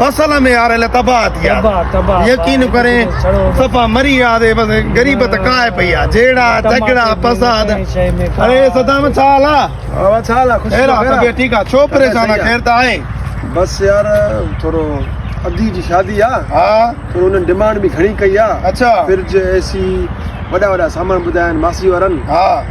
فصل ۾ آريل تباهه ٿي آ يقين ڪرين صفا مري آ دي بس غريب ته ڪاهي پئي آ جهيڙا جهگڙا فساد اري صدام ڇا حال آ ها ڇا حال آ خوش رهو خير آ ٺيڪ آ ڇو پريشان آ خير ته آهي بس يار ٿورو ادي جي شادي آ ها ٿورو انهن ڊمانڊ به گهڻي ڪئي آ اڇا فرج اي سي وڏا وڏا سامان ٻڌايا آهن ماسي وارن ها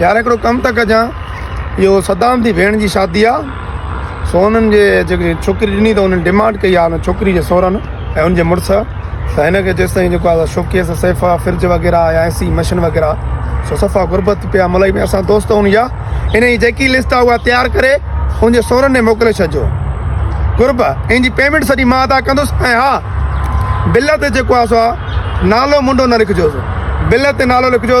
يار هڪڙو ڪم ته ڪجان اهو صدام جي ڀيڻ جي شادي آ سو انهن جي جيڪي ڇوڪري ڏني ته انهن ڊيمانڊ ڪئي آ ان ڇوڪري جي سورن ۽ ان جي مڙس ته هن کي جيستائين جيڪو آ شوڪيس سيفا فرج وغيره يا ايسي مشين وغيره سو صفا غربت پيا ملائي ۾ اسان دوست هن جا ان جي جيڪي لسٽ آ اها تيار ڪري ان جي سورن ۾ موڪلي ڇڏجو غرب ان جي پيمنٽ سڄي مان ادا ڪندس ۽ ها بل تي جيڪو آ سو نالو منڊو نه لکجو بل تي نالو لکجو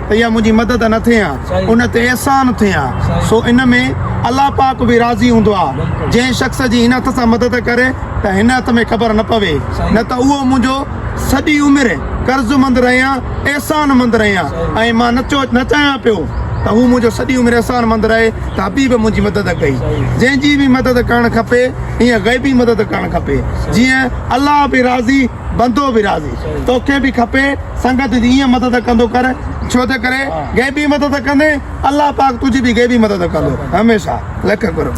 ته اها منهنجي مدد نه ٿئي ها ان تي احسان ٿئي ها سو ان ۾ الله پاڪ به راضي هوندو آ جنهن شخص جي هن هٿ سان مدد ڪري ته هن هٿ ۾ خبر نه پوي نه ته اهو منهنجو سڄي عمر قرض مند رهي ها احسان مند رهي ها ۽ مان نه چو نه چاهيان پيو ته هو منهنجو سڄي عمر احسان مند رهي ته حبيب منهنجي مدد ڪئي جنهن جي به مدد ڪرڻ کپي ائين غيبي مدد ڪرڻ کپي جيئن الله به راضي بندو به راضي توکي به کپي سنگت جي ائين مدد ڪندو ڪر ڇو تي ڪري غيبي مدد ڪندين الله پاڪ تنهنجي به غيبي مدد ڪندو هميشه لک قرب.